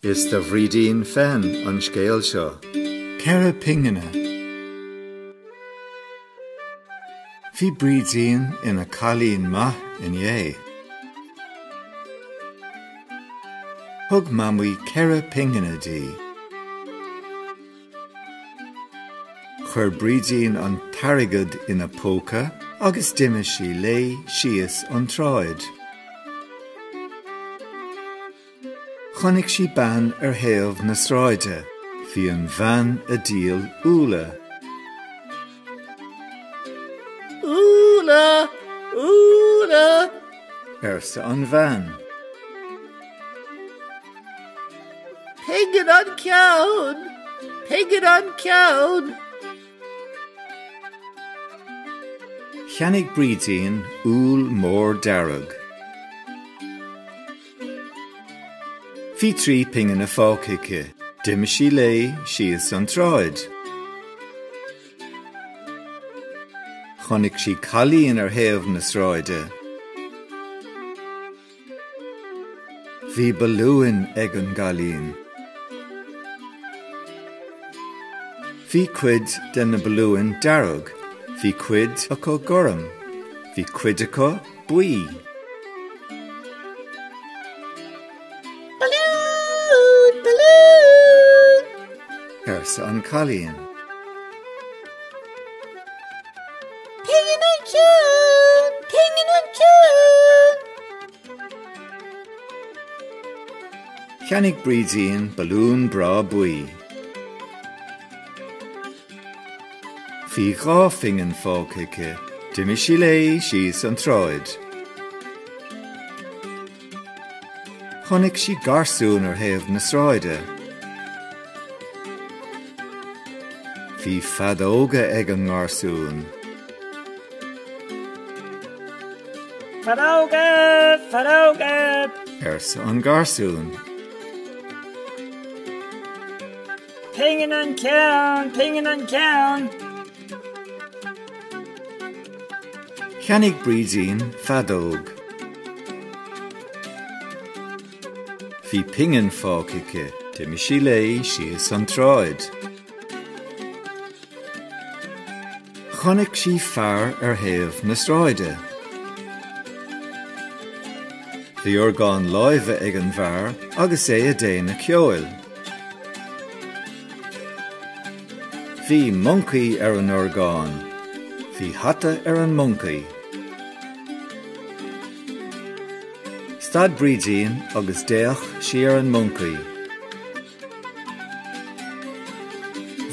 Is do Bhrídín féin an scéal seo. Ceithre pingine. Bhí Brídín ina cailín maith inné. Thug Mamaí ceithre pingine di. Chuir Brídín an t-airgead ina póca agus d'imigh sí léi síos an tsráid. Chonaic sí bean ar thaobh na sráide. Bhí an bhean ag díol úlla. Úlla! Úlla! arsa an bhean. Pingin an ceann! Pingin an ceann! Cheannaigh Brídín úll mór dearg. Bhí trí pingine fágtha aici. D'imigh sí léi síos an tsráid. Chonaic sí cailín ar thaobh na sráide. Bhí balúin ag an gcailín. Bhí cuid de na balúin dearg, bhí cuid acu gorm, bhí cuid acu. buí. Balún! Balún! arsa an cailín. Pingin an ceann! Pingin an ceann! Cheannaigh Brídín balún breá buí. Bhí dhá phingin fágtha aici. D'imigh sí léi síos an tsráid. Chonaic sí garsún ar thaobh na sráide. Bhí feadóga ag an ngarsún. Feadóga! Feadóga! arsa an garsún. Pingin an ceann! Pingin an ceann! Cheannaigh Brídín feadóg. Bhí pingin fágtha aici. D'imigh sí léi síos an tsráid. Chonaic sí fear ar thaobh na sráide. Bhí orgán láimhe ag an bhfear agus é ag déanamh ceoil. Bhí moncaí ar an orgán. Bhí hata ar an moncaí. Stad Brídín agus d'fhéach sí ar an moncaí.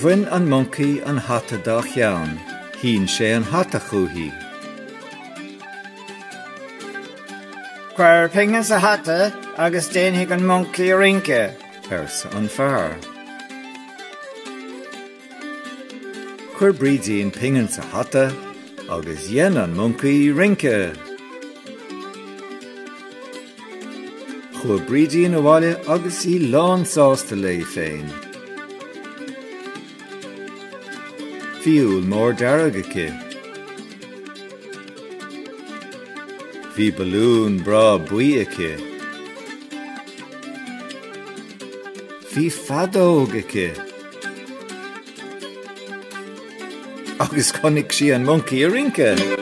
Bhain an moncaí an hata dá cheann. Shín sé an hata chúichi. Cuir pingin sa hata agus déanfaidh an moncaí rince, arsa an fear. Chuir Brídín pingin sa hata agus dhein an moncaí rince. Chuaigh Brídín abhaile agus í lánsásta léi féin. Bhí úll mór dearg aici. Bhí balún breá buí aici. Bhí feadóg aici. Agus chonaic sí an moncaí ag rince.